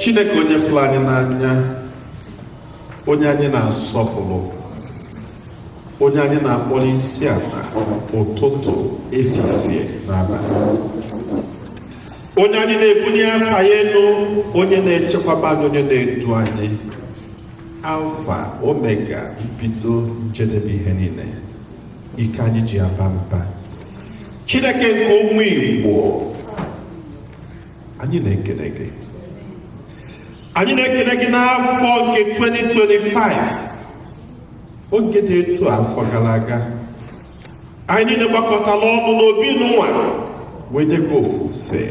chineke onye fụrụ anyị n'anya onye anyị na-asọpụrụ onye anyị na-akpọrọ isi ala ụtụtụ efifie na abalị onye anyị na-ebunye afa ya elu onye na-echekwaba anyị onye na-edu anyị alfa omega mbido njedebe ihe niile ike anyị ji aba mba chineke nke ụmụ igbo anyị na-ekele gị anyị na-ekele gị n'afọ nke 2025 oge dị etu afọ gara aga anyị niile gbakọtala ọnụ n'obi nunwa wee nye gị ofufe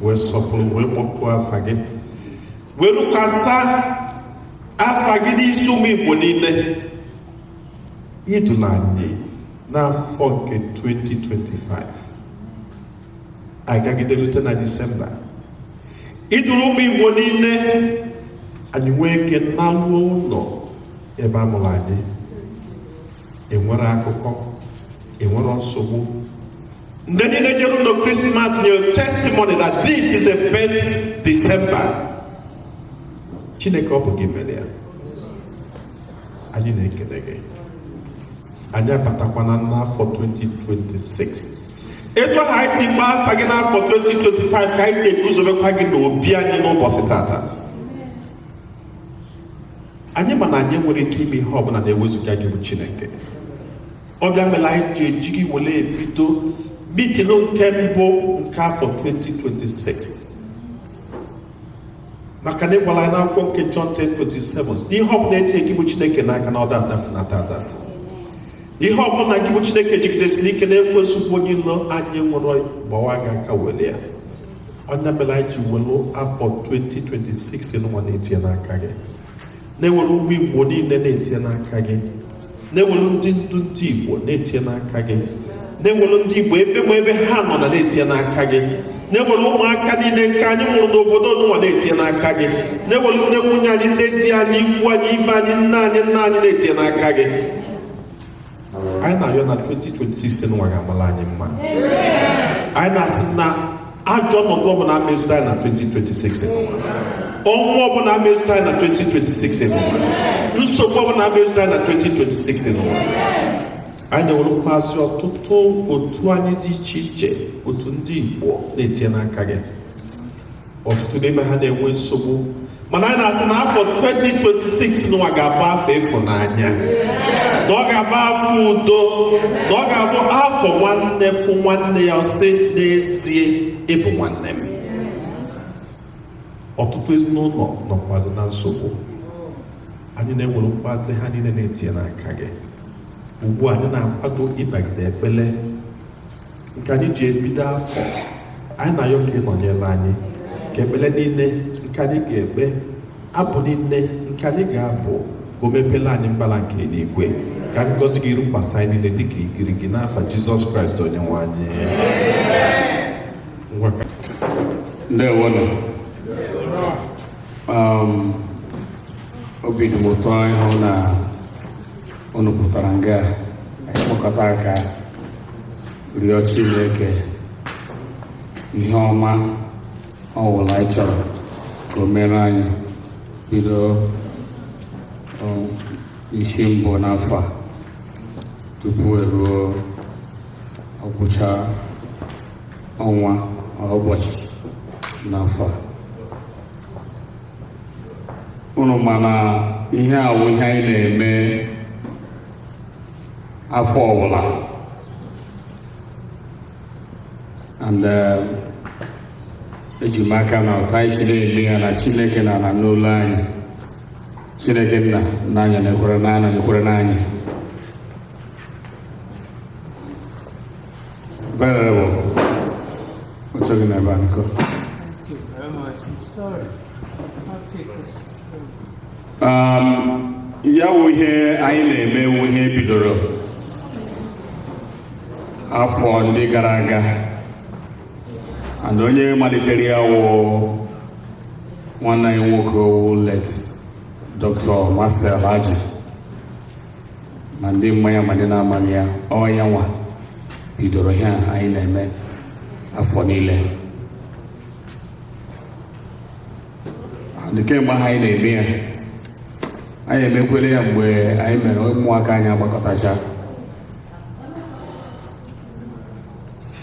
wee sọpụrụ wee kpọkuo afa gị wee rukwasa afa gị n'isi ụmụ igbo niile I dulu anyị n'afọ nke 2025 anyị gagide rute na Disemba i duru ụmụ Igbo niile anyị nwee ike naluo ụlọ ebe a mụrụ anyị enwere akụkọ enwere nsogbu ndị niile jere ụlọ krismas nyere testimony that this is the best December chineke ọ bụ gị mere ya anyị na-ekele gị anyị abatakwana n'afọ 2026 etu ahụ anyị si gbaa afa gị n'afọ 2025 ka anyị si eguzobekwa gị n'obi anyị n'ụbọchị tata anyị ma na anyị nwere ike ime ihe ọbụla na ewezuga gị bụ chineke ọ bụ ya mere anyị ji eji gị were ebido mitin nke mbụ nke afọ 2026 maka na ị gwala anyị n'akwụkwọ nke John 10:27 na ihe ọbụla etinye gị bụ Chineke n'aka na ọ da adafu na ọ da adafu ihe ọbụla gị bụ Chineke jigidesiri ike na ekwensu bụ onye ilo anyị nwụrụ gbawa gị aka were ya ọ ya mere anyị ji welu afọ 2026 nunwa na-etinye n'aka gị na-ewere ụmụ igbo niile na-etinye n'aka gị na-ewere ndị ndu ndị igbo na-etinye n'aka gị na-ewere ndị igbo ebe ma ebe ha nọ na na-etinye n'aka gị na-ewere ụmụaka niile nke anyị mụrụ n'obodo nunwa na-etinye n'aka gị na-ewere ndị nwunye anyị ndị di anyị ikwu anyị ibe anyị nne anyị nna anyị na-etinye n'aka gị anyị na-ayọ na 2026 nwa ga-amala anyị mma anyị na-asị na ajọ ọnọdụ ọbụla ama ezudo anyị na 2026 nwa ọnwụ ọbụla ama ezudo anyị na 2026 nwa nsogbu ọbụla ama ezudo anyị na 2026 nwa anyị na-ewerekwazị ọtụtụ otu anyị dị iche iche otu ndị Igbo na-etinye n'aka gị ọtụtụ n'ime ha na-enwe nsogbu mana anyị na-asị na afọ 2026 nụwa ga-abụ afọ ịfụnanya na ọ ga-abụ afọ udo na ọ ga-abụ afọ nwanne fụ nwanne ya sị n'ezie ị bụ nwanne m ọtụtụ ezinụlọ nọkwazi na nsogbu anyị na-ewere mkpazi ha niile na-etinye n'aka gị ugbu a anyị na-akwado ịbagide ekpele nke anyị ji ebido afọ anyị na-ayọ ka ị nọnyere anyị ka ekpele niile nke anyị ga-ekpe abụ niile nke anyị ga-abụ ka o mepela anyị mbala nke enigwe ka ngọzi gị rukwasị anyị niile dịka igirigi n'afa jizọs kraịst onye nwe anyị ngwa ka ndewonụ um, obi dị m ụtọ ịhụ na unu pụtara nga ịkpọkọta aka rịọ Chineke ihe ọma ọwụla anyị chọrọ ka o mere anyị bido isi mbụ n'afọ a tupu e ruo ọgwụcha ọnwa ụbọchị n'afọ a unu ma na ihe a wụ ihe anyị na-eme afọ ọwụla and eh, eji m aka na otu anyị siri eme ya na chineke na-anụ olu anyị chineke nna anyị na-ekwerenụ anyị na-ekwerenụ anyị Um, ya wụ ihe anyị na-eme wụ ihe bidoro afọ ndị gara aga and onye malitere ya wụ nwanne anyị nwoke wụ late Dr. Marcel Aji ma ndị ma ya ma ndị na-amaghị ya ọ ya nwa bidoro ihe a anyị na-eme afọ niile and kemgbe ahụ anyị na-eme ya anyị emekwere ya mgbe anyị mere ụmụaka anyị agbakọtacha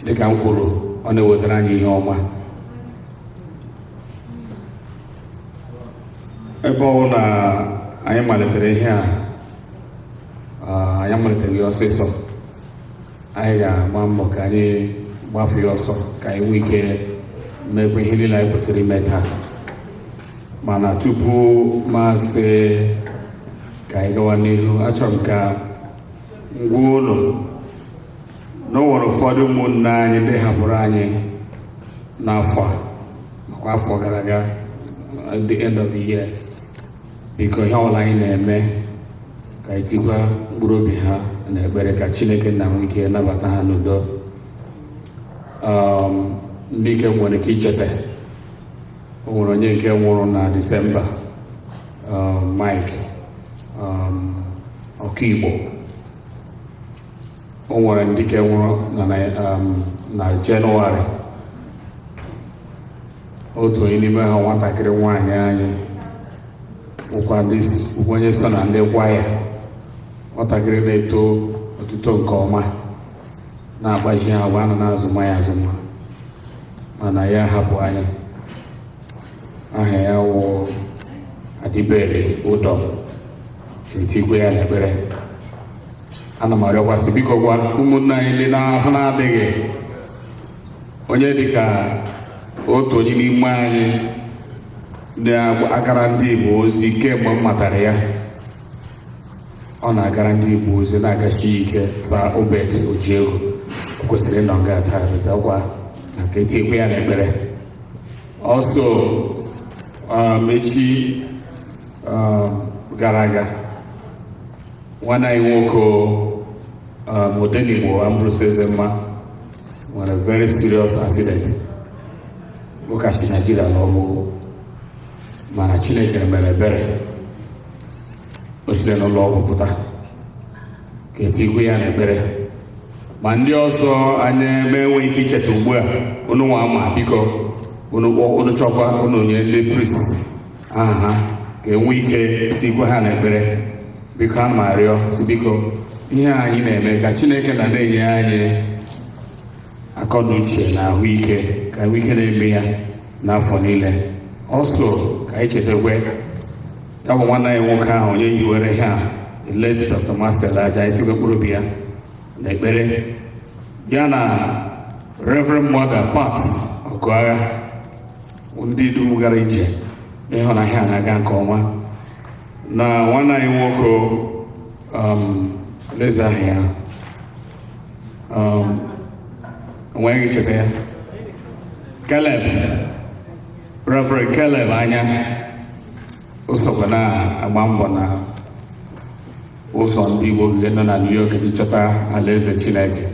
dịka m kwuru ọ na-ewetara anyị ihe ọma ebe ọ wụ na anyị malitere ihe a anyị maliteghị ya ọsịsọ anyị ga-agba mbọ ka anyị gbafe ya ọsọ ka anyị nwee ike mekwa ihe niile anyị kwesịrị ime taa mana tupu m asị ka anyị gawa n'ihu achọrọ m ka m gwa unu na o nwere ụfọdụ ụmụnne anyị ndị hapụrụ anyị n'afọ a makwa afọ gara aga at the end of the year biko ihe ọbụla anyị na-eme ka anyị tikwa mkpụrụ obi ha na ekpere ka chineke nna nwee ike nabata ha n'udo Um, ndị nke m nwere ike icheta o nwere onye nke nwụrụ na disemba um, mike um, ọkaigbo o nwere ndị nke nwụrụ na um, jenụwarị otu onye n'ime ha nwatakịrị nwaanyị anyị wụkwa onye so na ndị kwaya nwatakịrị na-eto otuto nke ọma na-akpazi agwa a nọ na-azụma ya azụma mana ya hapụ anyị aha ya wụ adịbere ụdọm ka etikwe ya n'ekpere ana m arịọkwa sị bikokwa ụmụnna anyị ndị n'ahụ na-adịghị onye dịka otu onye n'ime anyị ndị na-agara ndị Igbo ozi kemgbe m matara ya ọ na-agara ndị Igbo ozi na-agasi ike sir obed ojiego o kwesịrị ịnọ nga taa chetakwanụ ka etikwe ya n'ekpere Also, um, echi um, gara aga nwanne anyị nwoke um, Odenigbo Ambrose Ezemma nwere very serious accident ọ ka si Naijiria lọ ọhụụ mana Chineke mere ebere o siri n'ụlọ ọgwụ pụta ka etikwe ya n'ekpere ma ndị ọzọ anyị na-enweghị ike icheta ugbu a unu nwa ma biko unu kpọ unu chọkwa unu nye ndị priest aha ha ka enwe ike tikwe ha n'ekpere biko ana m arịọ sị biko ihe a anyị na-eme ka chineke nna na-enye anyị akọ na uche na ahụike ka enwe ike na-eme ya n'afọ niile also ka anyị chetakwa ya bụ nwanne anyị nwoke ahụ onye hiwere ihe a late Dr. Marcel Aja etikwe mkpụrụ obi ya na ekpere ya na Reverend Mother Pat Ọgụagha ndị dum gara ije ịhụ na ihe a na-aga nke ọma na nwanne anyị nwoke um, oleezi aha ya um, enweghị cheta ya Caleb Reverend Caleb Anya o sokwa na-agba mbọ na ụzọ ndị Igbo ga-ehi nọ na New York iji chọta alaeze Chineke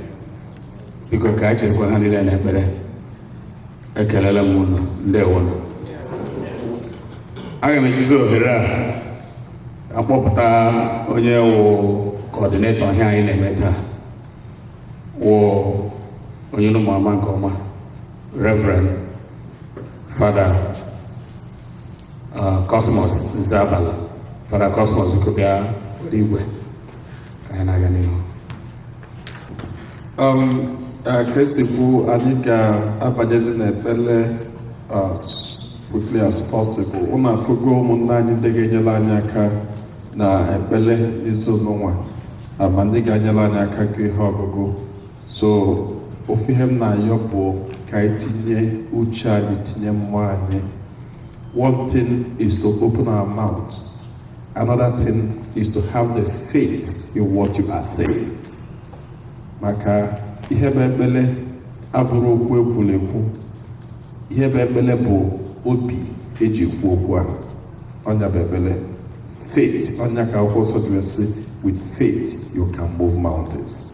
biko ka echetakwa ha niile n'ekpere ekelela m unu ndewonu aga m ejizi ohere a akpọpụta onye wụ kọọdinetọ ihe anyị na-eme taa wụ onye unu ma ama nke ọma Reverend Father uh, Cosmos Zabala Father Cosmos biko bịa were igwe ka anyị na-aga n'ihu um, uh, ka esi kwu anyị ga-abanyezi n'ekpele as quickly as possible ụnụ afụgo ụmụnna anyị ndị ga-enyele anyị aka na ekpele n'izu nụnwa ma ndị ga-enyele anyị aka ka ihe ọgụgụ so ofu ihe m na-ayọ bụ ka anyị tinye uche anyị tinye mmụọ anyị one thing is to open our mouth another thing is to have the faith in what you are saying maka ihe bụ ekpele abụrọ okwu ekwuru ekwu ihe bụ ekpele bụ obi eji ekwu okwu ahụ ọ nya bụ ekpele faith ọ nya ka akwụkwọ nsọ ji sị with faith you can move mountains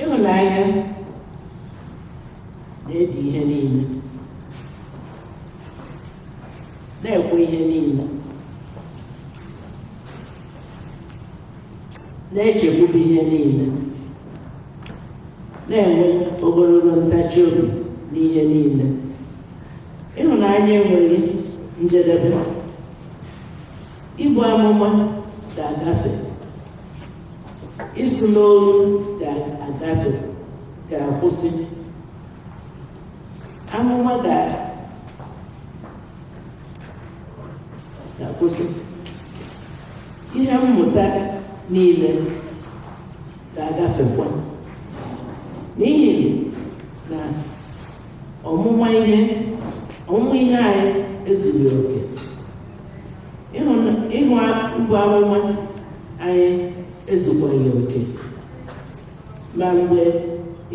ịhụnanya na-edi ihe niile na-ekwe ihe niile na-echekwube ihe niile na-enwe ogologo ntachi obi n'ihe niile ịhụnanya enweghị njedebe ibu amụma ga-agafe ịsụ n'olu ga-agafe ga-akwụsị amụma ga-akwụsị ihe mmụta niile ga-agafekwa n'ihi na ọmụma ihe ọmụma ihe anyị ezughị oke ịhụ ibu amụma anyị ezukwaghị oke ma mgbe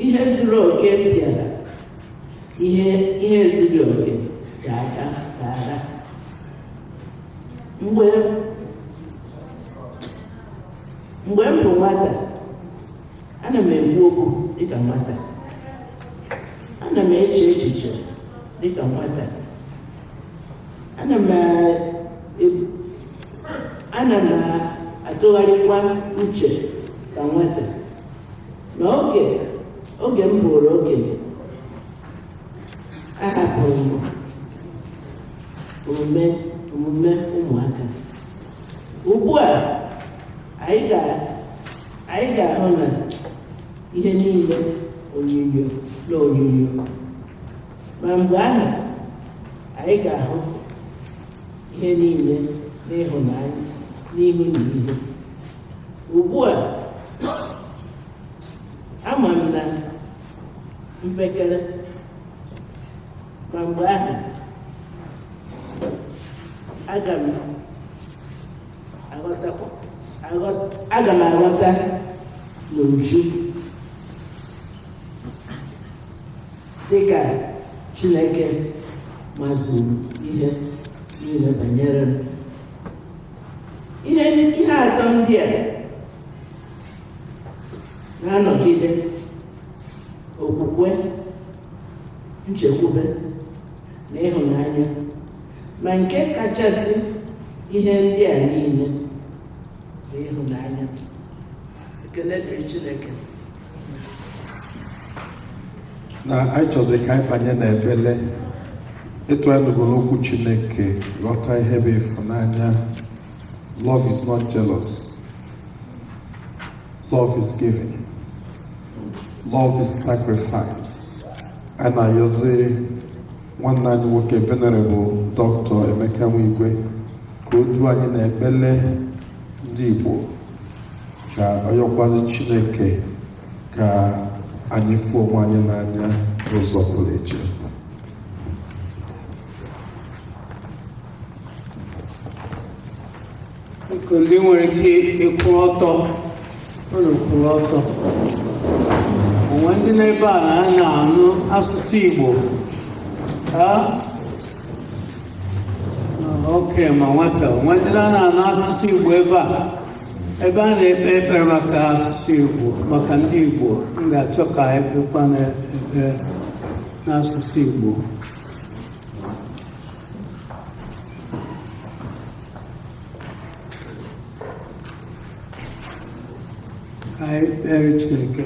ihe zuru oke bịara ihe ihe ezughị oke ga-aga ga-aga mgbe mgbe m bụ nwata ana m ekwu okwu dịka nwata ana m eche echiche dịka nwata ana m e- ana m atụgharịkwa uche ka nwata na oge oge m bụrụ okenye ahapụrụ m omume omume ụmụaka ugbu a anyị ga anyị ga-ahụ na ihe niile onyinyo na onyinyo ma mgbe ahụ anyị ga-ahụ ihe niile n'ịhụnanya n'ihu na ihu ugbu a ama m na mpekere ma mgbe ahụ aga m aghọtakwa aghọ- aga m aghọta n'uju Dịka Chineke mazuru ihe niile banyere m ihe ihe atọ ndị a na-anọgide okwukwe nchekwube na ịhụnanya ma nke kachasị ihe ndị a niile bụ ịhụnanya ekele dịrị Chineke na anyị chọzi ka anyị banye na ekpele etu anyị nụgoro okwu chineke ghọta ihe bụ ịfụnanya love is not jealous love is giving love is sacrifice anyị na-ayọzi nwanne anyị nwoke venerable dr emeka nwigwe ka o duo anyị na ekpele ndị Igbo ka ọ yọkwazi Chineke ka anyị fụ onwe anyị n'anya n'ụzọ pụrụ iche nke ndị nwere ike ịkwụ ọtọ ụlọ kwụrụ ọtọ o nwe ndị n'ebe a na a na-anụ asụsụ Igbo ha okay ma nwata o nwe ndị na na-anụ asụsụ Igbo ebe a ebe a na-ekpe ekpere maka asụsụ Igbo maka ndị Igbo m ga-achọ ka anyị kpekwanụ ekpere n'asụsụ Igbo anyị kpere Chineke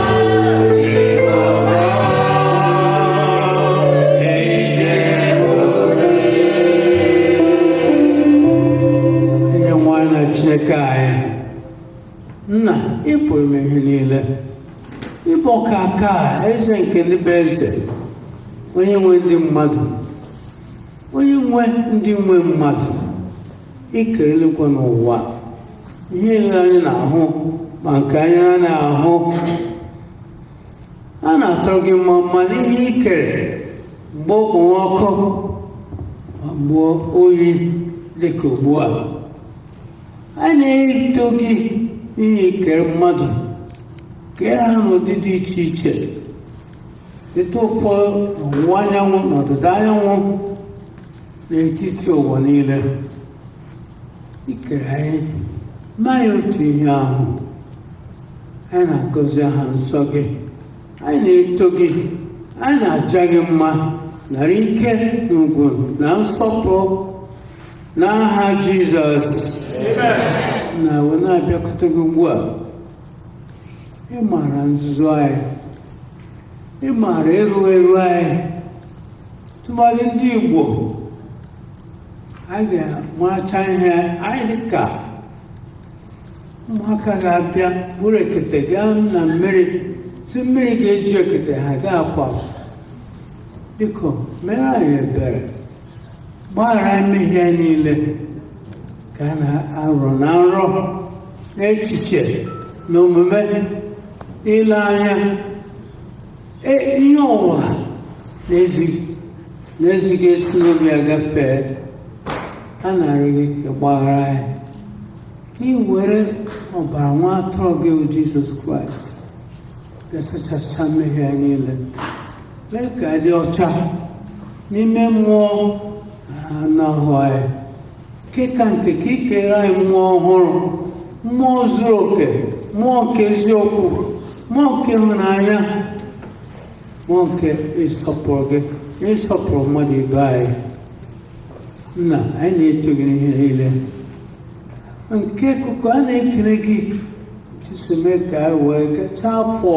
onye nwe anyị na chineke anyị nna ị pụrụ ime ihe niile ị bụ ọkaakaa, eze nke ndị bụ eze onye nwe ndị mmadụ onye nwe ndị nwe mmadụ i kere eluigwe n'ụwa ihe niile anyị na-ahụ ma nke anyị na-anaghị ahụ a na-atụrụ gị mma mma n'ihe i kere mgbe okpomọkụ ma mgbe oyi dị ka ugbu a a na-eto gị n'ihi i kere mmadụ kee ha n'ụdị dị iche iche dote ụfọdụ n'ọwụwa anyanwụ na ọdịda anyanwụ n'etiti ụwa niile i kere anyị ma ya otu ihe ahụ anyị na-agọzi aha nsọ gị anyị na-eto gị anyị na-aja gị mma nara ike na ugwu na nsọpụrụ n'aha jizọs nna a wee na-abịakwute gị ugbu a ị maara nzuzu anyị ị maara erughị eru anyị tụmadị ndị Igbo anyị ga-amacha ihe anyị dịka ụmụaka ga-abịa buru ekete gaa na mmiri sị mmiri ga-eju ekete ha ga-akwa biko mere anyị ebere gbaghara mmehie niile ka a na-arọ na nrọ n'echiche na omume n'ile anya Ee, ihe ọ bụla na-ezighị na-ezighị ezi si n'obi anyị gafee a na-arịọ gị ka ị gbaghara anyị ka ị were ọbara nwa atụrụ gị bụ jizọs kraịst na-asachacha mmehie anyị niile mee ka anyị dị ọcha n'ime mmụọ na anụ ahụ anyị nke ka nke ka i keere anyị mmụọ ọhụrụ mmụọ zuru oke mmụọ nke eziokwu mmụọ nke ịhụnanya mmụọ nke ịsọpụrụ gị na ịsọpụrụ mmadụ ibe anyị nna anyị na-eto gị n'ihe niile nke ka ukwuu a na-ekele gị etu i si mee ka anyị wee gachaa afọ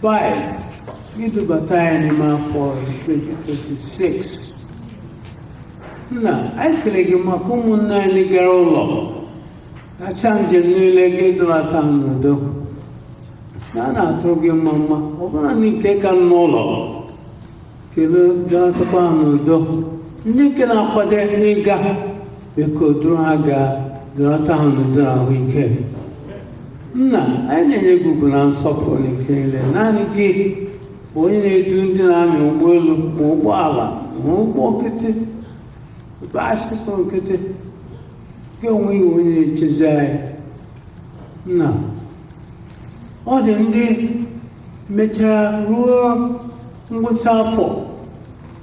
2025 i dubata anyị n'ime afọ 2026 nna anyị kele gị maka ụmụnne anyị gara ụlọ gachaa njem niile gị dulata ha n'udo nna a na-atụrụ gị mma mma ọ bụla ndị nke ka nọ n'ụlọ kele dulatakwa ha n'udo ndị nke na-akwado ịga biko duru ha gaa dulata ha n'udo na ahụike nna anyị na-enye gị ugwu na nsọpụrụ na ike niile naanị gị onye na-edu ndị na-anya ụgbọelu ma ụgbọala ma ụgbọ nkịtị baịsịkụ nkịtị gị onwe gị onye na-echezi anyị nna ọ dị ndị mechara ruo ngwụcha afọ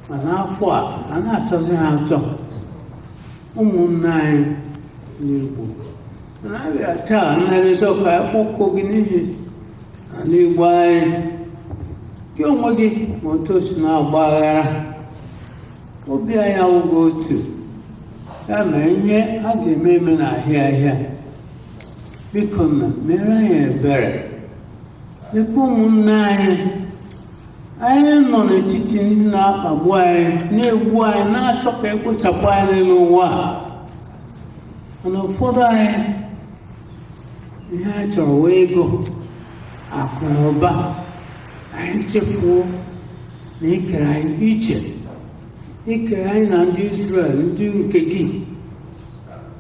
ma n'afọ a a na-achọzi ha achọ ụmụnne anyị n'Igbo na-abịa taa nna dị nsọ ka a kpọkuo gị n'ihi ala Igbo anyị gị onwe gị ma otu o si na-agba aghara obi anyị awụghị otu ya mere ihe a ga-eme eme na-ahịa ahịa biko nna mere anyị ebere lekwa ụmụnne anyị anyị nọ n'etiti ndị na-akpagbu anyị na-egbu anyị na-achọ ka e kpochapụ anyị n'elu ụwa a mana ụfọdụ anyị ihe anyị chọrọ wụ ego akụ na ụba anyị chefuo na i kere anyị iche i kere anyị na ndị Israel ndị nke gị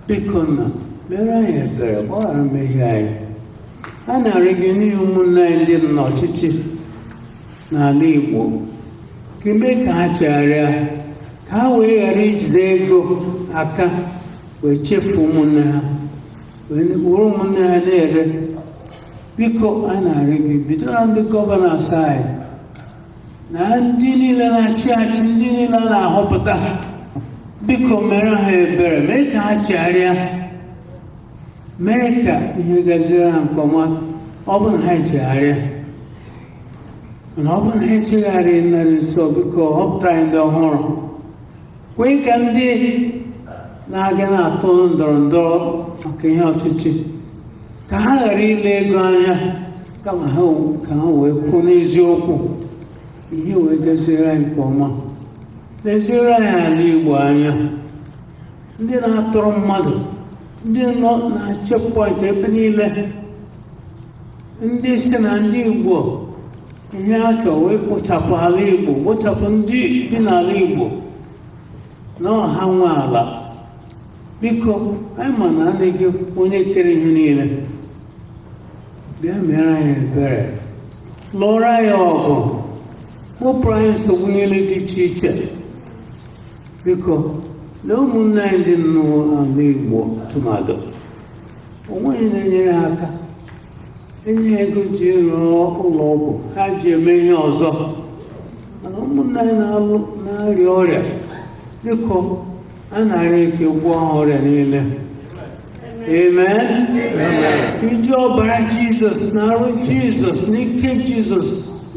biko nna mere anyị ebere gbaghara mmehie anyị a na-arịọ gị n'ihi ụmụnne anyị ndị nọ n'ọchịchị n'ala Igbo ka i mee ka ha chegharịa ka ha wee ghara ijide ego aka wee chefuo ụmụnne ha wee were ụmụnne ha na-ere biko a na-arịọ gị bido na ndị gọvanọs anyị na ndị niile na-achị achị ndị niile a na-ahọpụta biko mere ha ebere mee ka ha chegharịa mee ka ihe gaziere ha nke ọma ọ bụ na ha echegharịa mana ọ bụ na ha echegharịghị nna dị nsọ biko họpụta anyị ndị ọhụrụ kwee ka ndị na-aga na-atụ ndọrọ ndọrọ maka ihe ọchịchị ka ha ghara ile ego anya kama ha ka ha wee kwụrụ n'eziokwu ihe wee gaziere anyị nke ọma leziere anyị ala Igbo anya ndị na-atọrọ mmadụ ndị nọ na checkpoint ebe niile ndị sị na ndị Igbo ihe ha chọrọ wụ ikpochapụ ala Igbo kpochapụ ndị bi n'ala Igbo na ọ ha nwe ala biko anyị ma naanị gị onye kere ihe niile bịa mere anyị ebere lụọrọ anyị ọgụ kpopụrụ anyị nsogbu niile dị iche iche biko lee ụmụnne anyị ndị nọ n'ala Igbo tụmadụ o nweghị na-enyere ha aka enye ha ego ji rụọ ụlọ ọgwụ ha ji eme ihe ọzọ mana ụmụnna anyị na-arịa ọrịa biko a na-arịọ gị ka ị gwọọ ha ọrịa niile amen iji ọbara jizọs na arụ jizọs na ike jizọs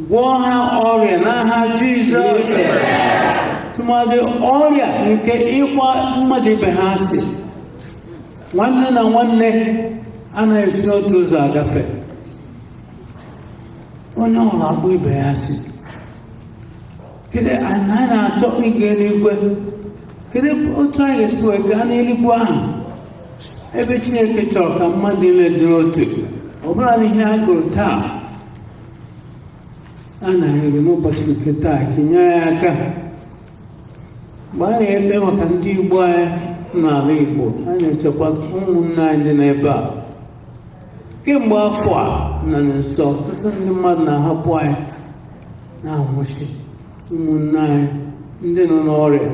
gwọọ ha ọrịa n'aha jizọs tụmadị ọrịa nke ịkpọ mmadụ ibe ha asị nwanne na nwanne anaghị esi n'otu ụzọ agafe onye ọbụla akpọ ibe ya asị kedu anyị na-achọ ịga eluigwe kedu otu anyị ga-esi wee gaa n'eluigwe ahụ ebe chineke chọrọ ka mmadụ niile dịrị otu ọbụna n'ihe a gụrụ taa a na-arịọ gị n'ụbọchị nke taa ka ị nyere anyị aka mgbe anyị na-ekpe maka ndị Igbo anyị n'ala Igbo anyị na-echekwa ụmụnne anyị dị n'ebe a kemgbe afọ a nna nsọ ọtụtụ ndị mmadụ na-ahapụ anyị na-anwụsị ụmụnne anyị ndị nọ n'ọrịa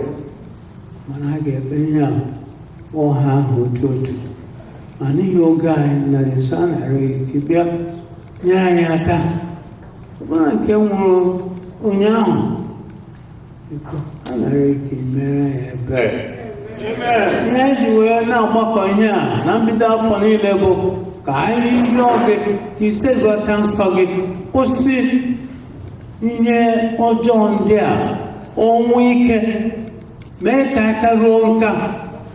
mana a ga-eme ihe a kpọọ ha aha otu otu ma n'ihi oge anyị nna nsọ a na-arịọ gị ka ị bịa nye anyị aka ọbụna nke nwụrụ ụnyaahụ biko a na-arịọ gị ka ị mere ya ebere ihe e ji wee na-agbakọ ihe a na mbido afọ niile bụ ka anyị rịọ gị ka i setịpụ aka nsọ gị kwụsị ihe ọjọọ ndị a ọnwụ ike mee ka anyị karuo nka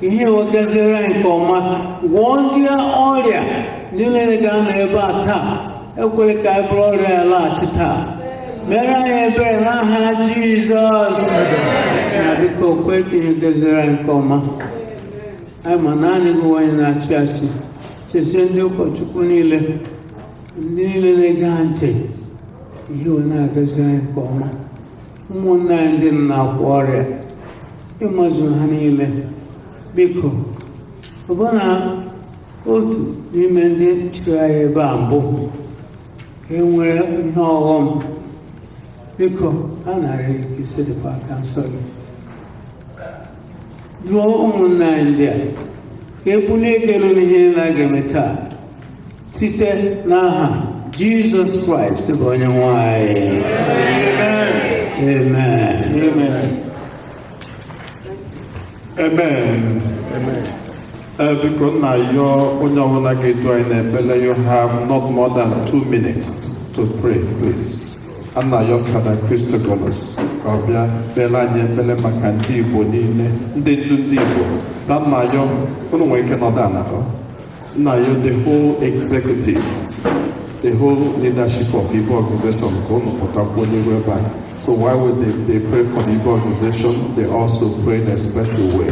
ihe wee gaziere anyị nke ọma gwọọ ndị ọrịa ndị niile ga-anọ ebe a taa ekwela ka anyị buru ọrịa ya laghachi taa mere anyị ebere n'aha jizọs nna biko kwe ka ihe gaziere anyị nke ọma anyị ma naanị gị bụ onye na-achị achị chesie ndị ụkọchukwu niile ndị niile na-ege ha ntị ihe wee na-agaziri anyị nke ọma ụmụnne anyị ndị nọ n'akwa ọrịa ị mazu ha niile biko ọbụna otu n'ime ndị chịrị anyị ebe a mbụ nke nwere ihe ọghọm biko a na-arịọ gị ka i setịpụ aka nsọ gị duo ụmụnna anyị ndị a ka e bulie gị elu n'ihe anyị ga-eme taa site n'aha jizọs kraịst bụ onye nwe anyị amen Amen. Amen. Uh, biko m na-ayọ onye ọbụla ga-edu anyị n'ekpere you have not more than two minutes to pray please. a na-ayọ Fada Christogonus ka ọ bịa kpere anyị ekpere maka ndị Igbo niile ndị ndu ndị Igbo so m na-ayọ unu nwere ike nọdụ ala m na-ayọ the whole executive the whole leadership of Igbo organization ka unu pụtakwuo n'iru ebe a so while they pray for the Igbo organization they also pray in a special way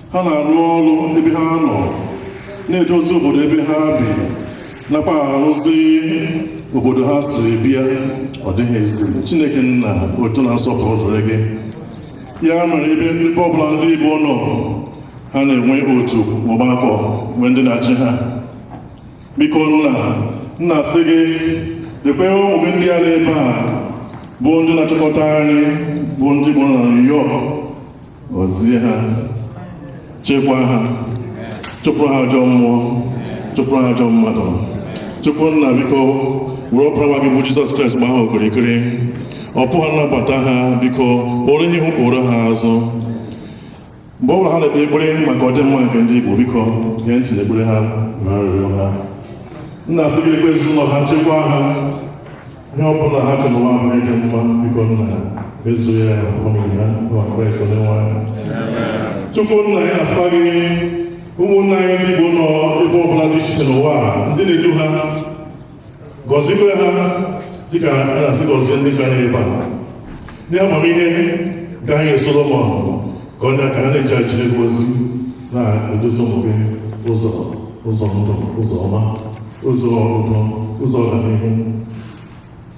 ha na-arụ ọrụ ebe ha nọ na-edozi obodo ebe ha bi nakwa arụzi obodo ha si bịa ọ dịghị ezi chineke nna otuto na nsọpụrụ dịrị gị ya mere ebe ọbụla ndị igbo nọ ha na-enwe otu ọgbakọ nwee ndị na-achị ha biko nna m na-asị gị lekwe ụmụ gị ndị a n'ebe a bụ ndị na-achịkọta anyị bụ ndị igbo na New York gọzie ha chekwa ha chụpụrụ ha ajọ mmụọ chụpụrụ ha ajọ mmadụ chukwu nna biko were ọbara nwa gị bụ jizọs kraịst gbaa ha okirikiri ọpụpụ ha na mbata ha biko kpọrọ ha ihu kpọrọ ha azụ mgbe ọ bụla ha na-ekpe ekpere maka ọdịmma nke ndị igbo biko gee ntị n'ekpere ha na arịrịọ ha m na-asị gị lekwe ezinụlọ ha chekwa ha Ihe ọ bụla ha chọrọ n'ụwa a bụ ihe dị mma biko nna mezuo ya na famili ha n'aha Kraịst onyenwe anyị. Chukwu nna anyị na-asịkwa gị ụmụnna anyị ndị Igbo nọ ebe ọbụla dị iche iche n'ụwa a, ndị na-edu ha gọzikwa ha dịka a na-asị gọzie ndị ka nọ ebe a Ụdị amamihe nke i nyere Solomọn ka o nye aka ha na-eji ejere gị ozi na-eduzi ụmụ gị ụzọ ụzọ ndụ ụzọ ọma ụzọ udo ụzọ ọganihu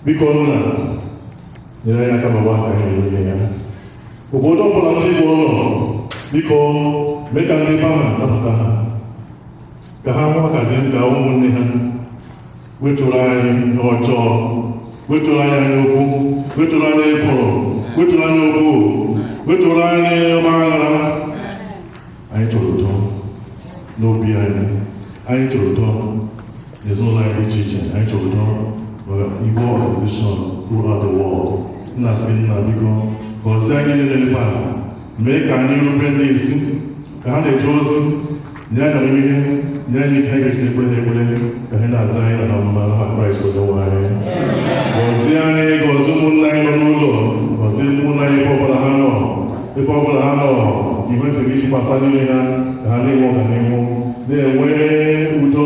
biko nna nyere ha aka n'aha Kraịst onyenwe anyị obodo ọbụla ndị Igbo nọ biko mee ka ndị be ahụ nabata ha ka ha hụ ha dịka ụmụnne ha wepụrụ anyị ihe ọjọọ wepụrụ anyị anya ukwu wepụrụ anyị ekworo wepụrụ anyị okwu wepụrụ anyị ọgba aghara anyị chọrọ udo n'obi anyị anyị chọrọ udo n'ezinụlọ anyị dị iche iche anyị chọrọ udo maka igbo organization throughout the world m na-asị nna biko gọzie anyị niile ebe a mee ka anyị rube ndị isi ka ha na-eje ozi nye anyị amamihe nye anyị ike anyị ga-eji ekpere ha ekpere ka ihe na-adịrị anyị na ha mma n'aha kraịst onyenwe anyị gọzie anyị gọzie ụmụnna anyị nọ n'ụlọ gọzie ụmụnna anyị ebe ọbụla ha nọ ebe ọbụla ha nọ ihe nke gị chakwasa n'ime ha ka ha na-enwe ọganihu na-enwe udo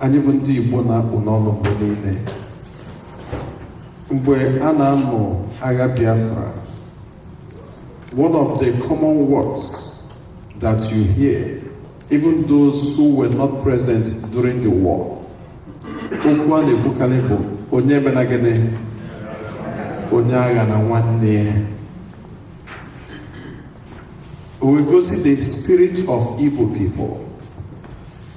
anyị bụ ndị Igbo na-akpụ n'ọnụ mgbe niile mgbe a na-anụ agha Biafra one of the common words that you hear even those who were not present during the war okwu a na-ekwukarị bụ onye emena gịnị onye aghana nwanne ya o wee gosi the spirit of Igbo people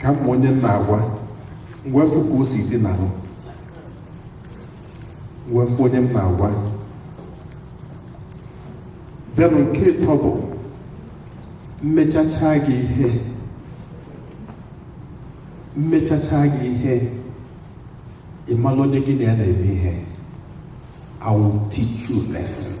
ka m ma onye m na-agwa m wee fụ ka o si dị n'ahụ m wee fụ onye m na-agwa then nke ịtọ bụ m mechacha gị ihe m mechacha gị ihe ị mara onye gị na ya na-eme ihe I will teach you a lesson.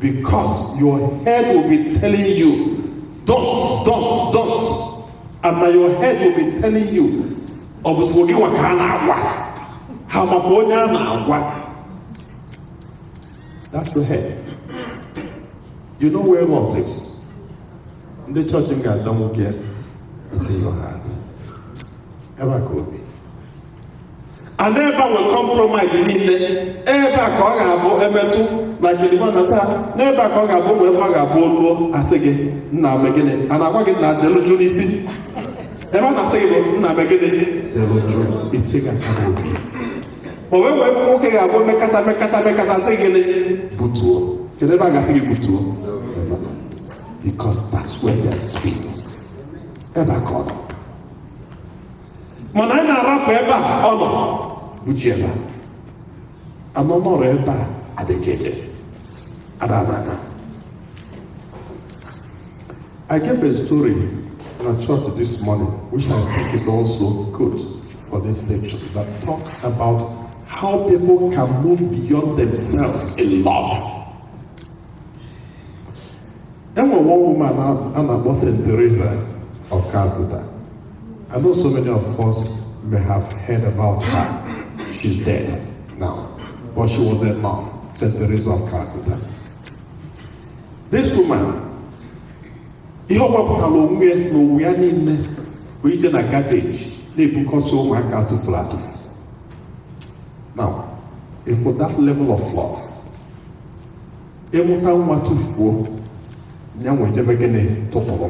Because your head will be telling you, don't, don't, don't. And now your head will be telling you, ọ bụ sọ gị nwa ka a na-agwa ha makwa onye a na-agwa that's your head do you know where love lives ndị chọọchị m ga-aza nwoke it's in your heart ebe a ka o bi and ebe a nwe compromise niile ebe a ka ọ ga-abụ emetụ na kedịba na saa n'ebe a ka ọ ga-abụ ụmụ ebe ọ ga-abụ o luo a sị gị nna me gịnị a na-agwa gị nna delu juu n'isi ebe a na-asị gị bụ nna me gịnị delu juu iche gị aka n'obi o wee wee bụ nwoke ga-abụ mekata mekata mekata sị gịnị butuo kedụ ebe a ga-asị gị butuo because that's where there is peace ebe a ka ọ nọ mana anyị na-arapụ ebe a ọ nọ uche ebe a anọ nọrọ ebe a adịjeje adabana I gave a story in a church this morning, which I think is also good for this section, that talks about how people can move beyond themselves in love. There was one woman, Anna Bosen Teresa of Calcutta. I know so many of us may have heard about her. She's dead now. But she was a nun, St. Teresa of Calcutta. This woman, ihe ọ gbapụtara onwe ya na onwe ya niile bụ ije na garbage na-ebukọsị ụmụaka a tụfuru atụfu. Now, ị fụ that level of love, ị mụta nwa tụfuo, ya nwa eje mee gịnị tụtụrụ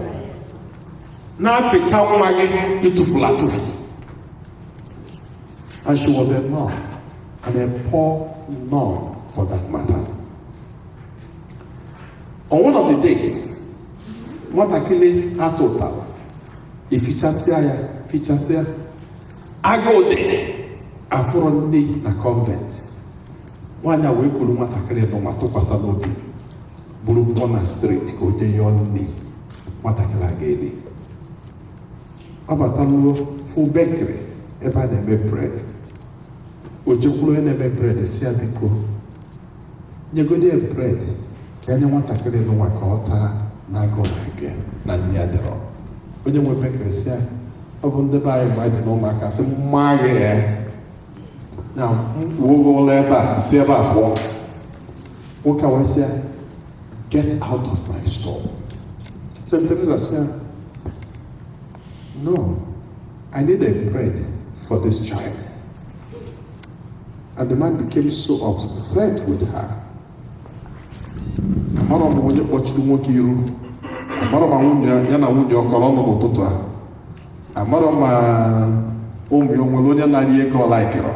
na-apịcha nwa gị ị tụfuru atụfu and she was a nun and a poor nun for that matter on one of the days nwatakịrị a tụtara e fichasịa ya fichasịa agụụ dị a fụrọ nni na convent nwaanyị a wee kuru nwatakịrị nụnwa tụkwasị n'obi buru pụọ na street ka o jee yọọ nri nwatakịrị a ga-eri ọ bataru ofu bakery ebe a na-eme bread o jekwuru onye na-eme bread sị ya biko nyegodi ya bread ka o nye nwatakịrị nụnwa ka ọ taa na agụụ na-agụ ya na nne ya adịrọ onye nwe bakery sị ya ọ bụ ndị be anyị mgbe anyị dị n'ụmụaka sị mma ya ya na mkpu ụgwọ ụlọ ebe a si ebe a pụọ nwoke a wee sị ya get out of my store St. Teresa sị ya no I need a bread for this child and the man became so upset with her amarọ m onye kpọchiri nwoke iru amarọ ma nwunye ya ya na nwunye ọ kọrọ ọnụ n'ụtụtụ a amarọ ma ụmụ ya o nwere onye narị ego ọ laikịrọ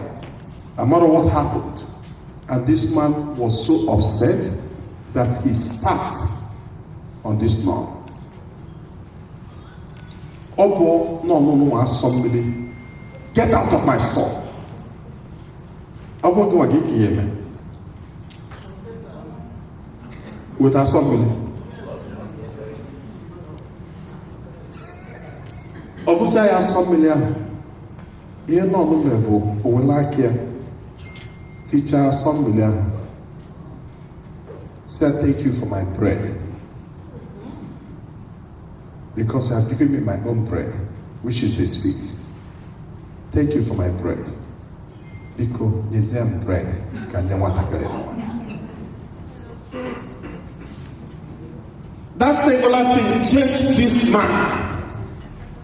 amarọ what happened And this man was so upset that he spat on this nun. Ọ bụọ nun a asọ mmiri get out of my store. Ọ bụ gịnwa gịnị ka ị ya-eme with asọ mmiri. Ọ bụsa ya asọ mmiri ahụ ihe nun mere bụ o wele aka ya fichaa asọ mmili ahụ sị ya thank you for my bread because you have given me my own bread which is the spit thank you for my bread biko nyezie m bread ka m nye nwatakịrị that singular thing changed this man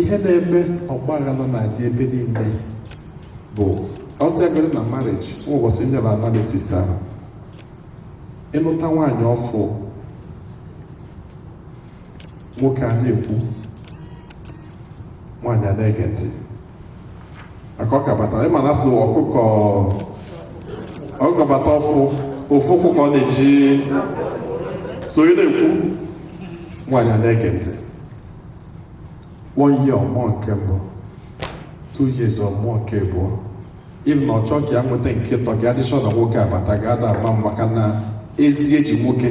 ihe na-eme ọgbaghara na-adị ebe niile bụ ọsọ egoro na marriage nwa ụbọchị m nyere analysis ahụ ị nụta nwaanyị ọfụ nwoke a na-ekwu nwaanyị a na-ege ntị maka ọ ka bata ị ma na a sị na ọkụkọ bata ọfụ ofu ụkwụ ka ọ na-eji so ị na-ekwu nwaanyị a na-ege ntị one year ọ mụọ nke mbụ two years ọ mụọ nke abụọ ịbụ na ọ chọọ ka ya nweta nke atọ ka ya dị sure na nwoke abatago ada ama maka na ezi eji nwoke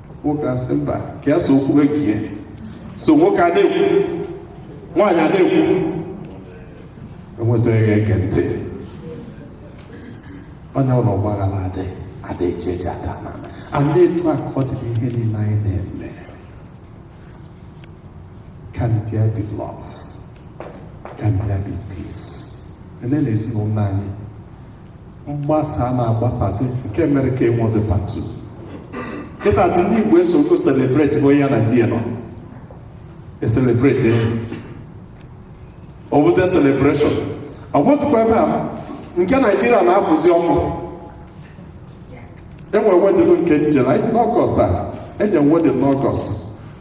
nwoke asị mba ka ya so kwue nke ya so nwoke a na-ekwu nwaanyị a na-ekwu enwezịghị ya ege ntị onye ụlọ ọgbaghara adị adị eje eje ada ana ana etu a ka ọ dị n'ihe niile anyị na-eme can there be love can there be peace ele na ezinụlọ anyị mgbasa a na-agbasasị nke mere ka enwezi party kịtazi ndị igbo esogo celebrate bụ ya na di ya nọ e-celebrate ọ bụzi celebration ọ bụzikwa ebe a nke Nigeria na-apụzi ọkụ enwe wedding nke m jere n'August a eje m wedding n'August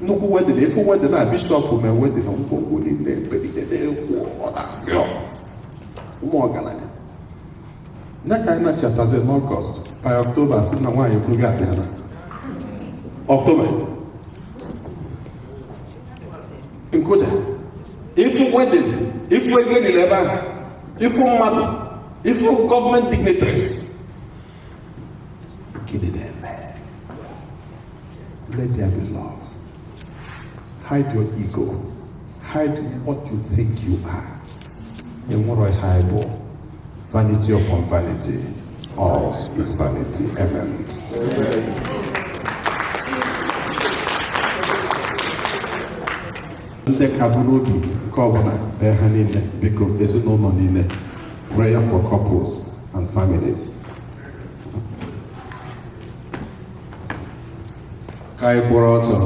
nnukwu wedding ị fụ wedding a bishop mee wedding ngwongwo niile ebe niile na-ekwu ọ na-afịọ ụmụ ọgaranya ya ka anyị na-achatazi n'August by October a sị na nwaanyị eburugo akpa ya naa October m kụja ị fụ wedding ị fụ ego niile ebe ahụ ị fụ mmadụ ị fụ government dignitaries Gịnị na-eme? Let there be love. Hide your ego. Hide what you think you are. O nwero ihe anyị bụ vanity upon vanity. All is vanity. Amen. ndị ka bụ n'obi nke ọbụla bee ha niile biko ezinụlọ niile prayer for couples and families ka anyị kwụrụ ọtọ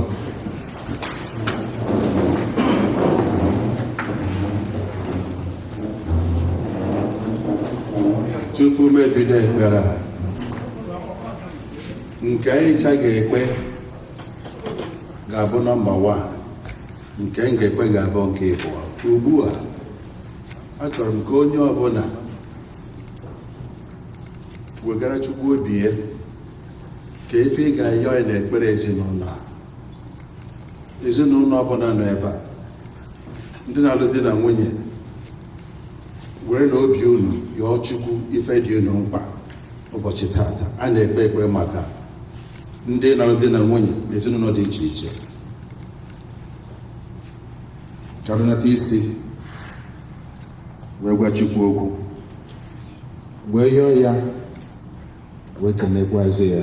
tupu m ebido ekpere a nke anyị ncha ga-ekpe ga-abụ nọmba 1 nke m ga-ekpe ga-abụ nke ịbụọ ugbu a achọrọ m ka onye ọbụla wegara chukwu obi ya ka ife ị ga-ayọ ya n'ekpere ezinụlọ a ezinụlọ ọbụla nọ ebe a ndị na-alụ di na nwunye were na obi unu yọọ chukwu ife dị unu mkpa ụbọchị taata a na-ekpe ekpere maka ndị lụrụ di na nwunye na ezinụlọ dị iche iche ka e runata isi wee gwa Chukwu okwu wee yọọ ya wee kenekwazi ya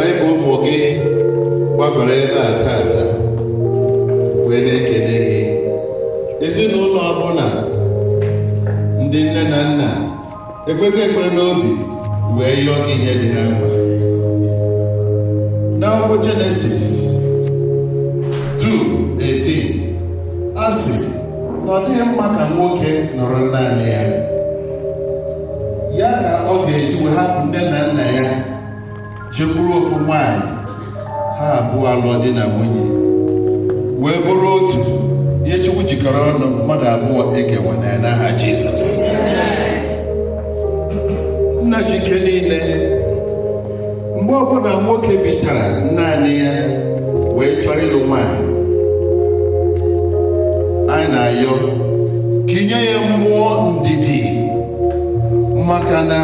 anyị bụ ụmụ gị gbabara ebe a taata wee na-ekele gị ezinụlọ ọbụla ndị nne na nna ekpekọ ekpere n'obi wee yọọ gị ihe dị ha mkpa n'akwụkwọ jenesis 2:18 a sị na ọ dịghị mma ka nwoke nọrọ naanị ya ya ka ọ ga-eji wee hapụ nne na nna ya jekwuru ofu nwaanyị ha abụọ alụọ di na nwunye wee bụrụ otu ihe chukwu jikọrọ ọnụ mmadụ abụọ ekewana ya n'aha jizọs nna ji ike niile mgbe ọbụla nwoke bichara naanị ya wee chọọ ịlụ nwaanyị anyị na-ayọ ka i nye ya mmụọ ndidi maka na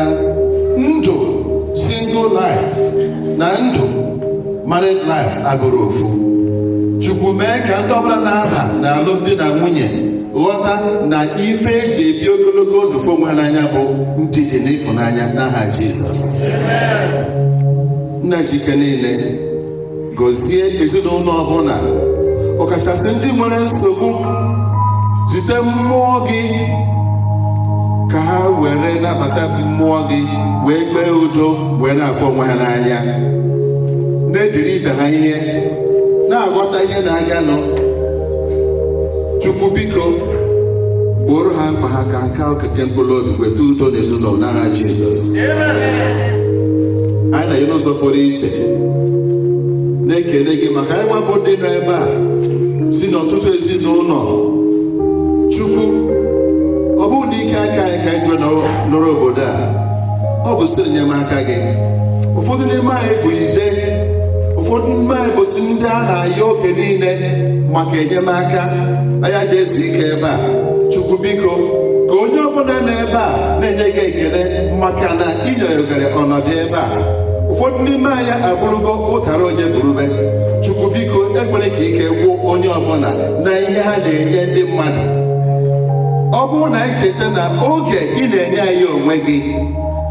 ndụ single life na ndụ married life abụrọ ofu chukwu mee ka ndị ọbụla na-aba na alụmdi na nwunye ghọta na ife eji ebi ogologo ndụ fụ onwe ha n'anya bụ ndidi na ịfụnanya n'aha jizọs nna ji ike niile gọzie ezinụlọ ọbụla ọkachasị ndị nwere nsogbu zite mmụọ gị ka ha were nabata mmụọ gị wee kpee udo wee na-afụ onwe ha n'anya na-ediri ibe ha ihe na-aghọta ihe na-aganụ chukwu biko gbooro ha mkpa ha ka nke okike mkpụrụ obi weta udo n'ezinụlọ n'aha jizọs anyị na-enye n'ụzọ pụrụ iche na-ekele gị maka anyị nwa bụ ndị nọ ebe a si n'ọtụtụ ezinụlọ chukwu ọ bụrọ n'ike aka anyị ka anyị ji wee nọrọ obodo a ọ bụ site n'enyemaka gị ụfọdụ n'ime anyị bụ ide ụfọdụ n'ime anyị bụsi ndị a na-ayọ oge niile maka enyemaka anyị adị ezu ike ebe a chukwu biko ka onye ọbụla nọ ebe a na-enye gị ekele maka na ị nyere oghere ọnọdụ ebe a ụfọdụ n'ime anyị abụrụgo ụtara onye buru bee chukwu biko ekwena ka ike gwụ onye ọbụla na ihe ha na-enye ndị mmadụ ọ bụrụ na anyị cheta na oge ị na-enye anyị onwe gị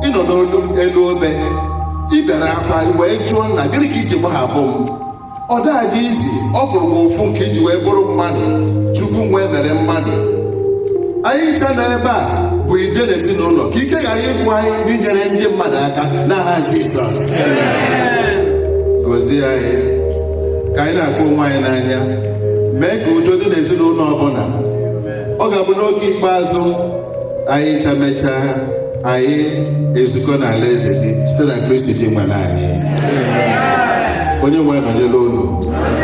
ị nọ n'elu obe i bere akwa wee jụọ na gịnị ka i ji gbahapụ m ọ da-adị easy ọ fụrụ m ụfụ nke i ji wee bụrụ mmadụ chukwu nwee mere mmadụ anyị ncha nọ ebe a bụ ide n'ezinụlọ ka ike ghara ịgwụ anyị n'inyere ndị mmadụ aka n'aha Jizọs gozie anyị ka anyị na-afụ onwe anyị n'anya mee ka udo dị n'ezinụlọ ọbụla ọ ga-abụ n'oge ikpeazụ anyị ncha mechaa anyị ezukọ n'ala eze gị site na kristi dinwenụ anyị onye nwe anyị nọnyere unu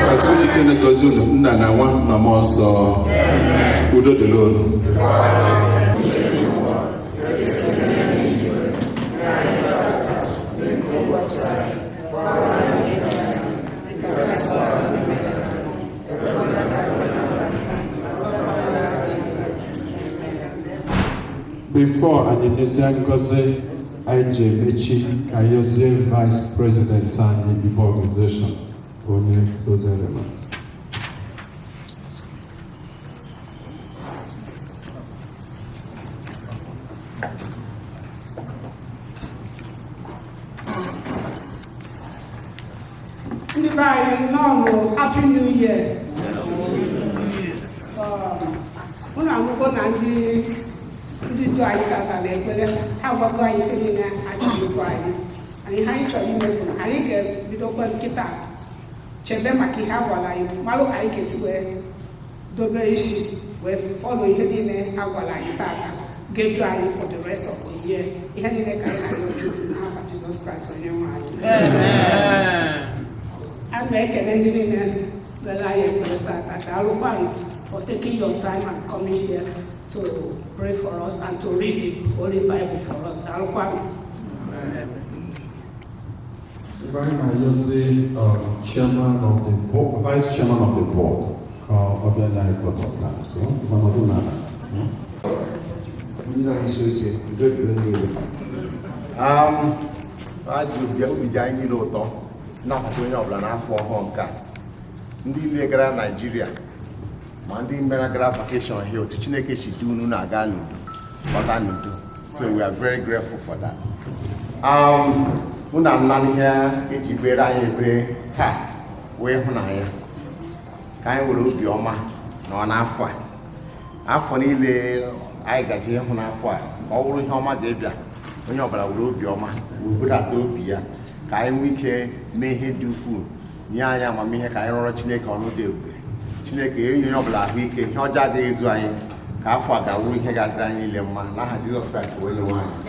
ka chukwu ji ike niile gọzie unu nna na nwa na mmụọ nsọ udo dịrị unu Before anyị nezie ngọzi anyị ji emechi ka anyị yọzie vice president anyị Igbo organization o nye closing remarks. ndị be anyị nnọọ nụ happy new year unu anụgo na ndị ndị du anyị tata n'ekpere ha agwago anyị ife niile anyị ga-ekwu anyị anyị ihe anyị chọrọ ime bụ na anyị ga-ebidokwa kịta chebe maka ihe a gwara anyị malụ ka anyị ga-esi wee dobe isi wee follow ihe niile a gwara anyị tata ga-edu anyị for the rest of the year ihe niile ka anyị na-arịọ Chukwu n'aha Jizọs Kraịst onye nwe anyị a na-ekele ndị niile nyere anyị ekpere tata daalụkwanụ for taking your time and coming here to pray for us and to read the Holy Bible for us. Daalụkwanụ. Ebe anyị na-ayọzi um, chairman of the board, vice chairman of the board ka ọ bịa nye vote of thanks ọ nọdụ n'ala. Ndị nọ n'isi oche, udo dịrị unu niile. Um, ajụ bịa obi dị anyị niile ụtọ n'ịnabata onye ọbụla n'afọ ọhụụ nke a ndị niile gara Naịjirịa ma ndị mere gara vacation here otu Chineke si du unu na-aga n'udo bata n'udo So we are very grateful for that. Um, unu anụla ihe e ji kpeere anyị ekpere taa wụ ịhụnanya ka anyị were obi ọma nọọ n'afọ a afọ niile anyị gaje ịhụ n'afọ a ka ọ bụrụ ihe ọma ga-ebịa onye ọbụla were obi ọma were budata obi ya ka anyị nwee ike mee ihe dị ukwuu nye anyị amamihe ka anyị rụọrọ Chineke ọrụ dị ebube Chineke enye onye ọbụla ahụike ihe ọjọọ agaghị ezu anyị ka afọ a ga-awụ ihe ga-adịrị anyị niile mma n'aha Jizọs Kraịst onye nwe anyị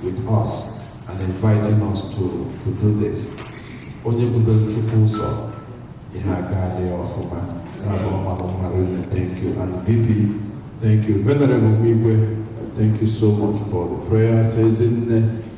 with us and inviting us to, to do this onye budoro Chukwu ụzọ ihe ga-adị ọfụma na-abụ mmadụ mmadụ thank you and VP thank you venerable Igwe thank you so much for the prayers ezinne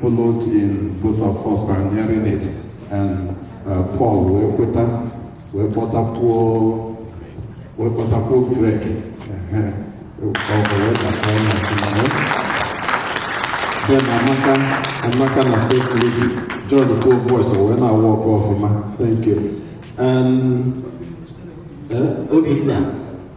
followed in both of us pioneering it and uh, Paul wee kweta wee kpọtakwuo wee kpọtakwuo Greg then Amaka Amaka na first lady joinkwuo voice wee na-awork ọfụma thank you and uh, Obinna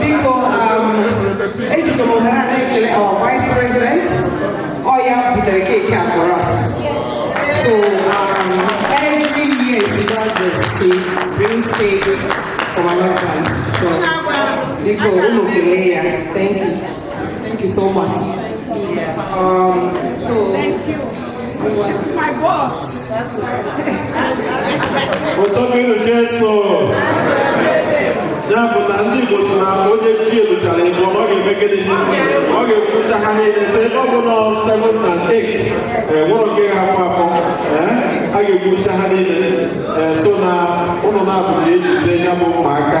biko um, ejikọ m ohere a na-ekele our vice president ọ ya butere keeki a for us so um, every year she does this she brings cake for my husband so biko unu kelee ya thank you thank you so much um, so tobenụ jeso ya bụ na ndị Igbo si na onye chi eluchara ịbụ ọ ga-eme gịnị ọ ga-ekurucha ha niile so ebe ọ bụ na 7 na 8 enwerọ nke ga-afọ afọ a ga-ekurucha ha niile so na ụlọ na-abụghị ejide ya bụ ụmụaka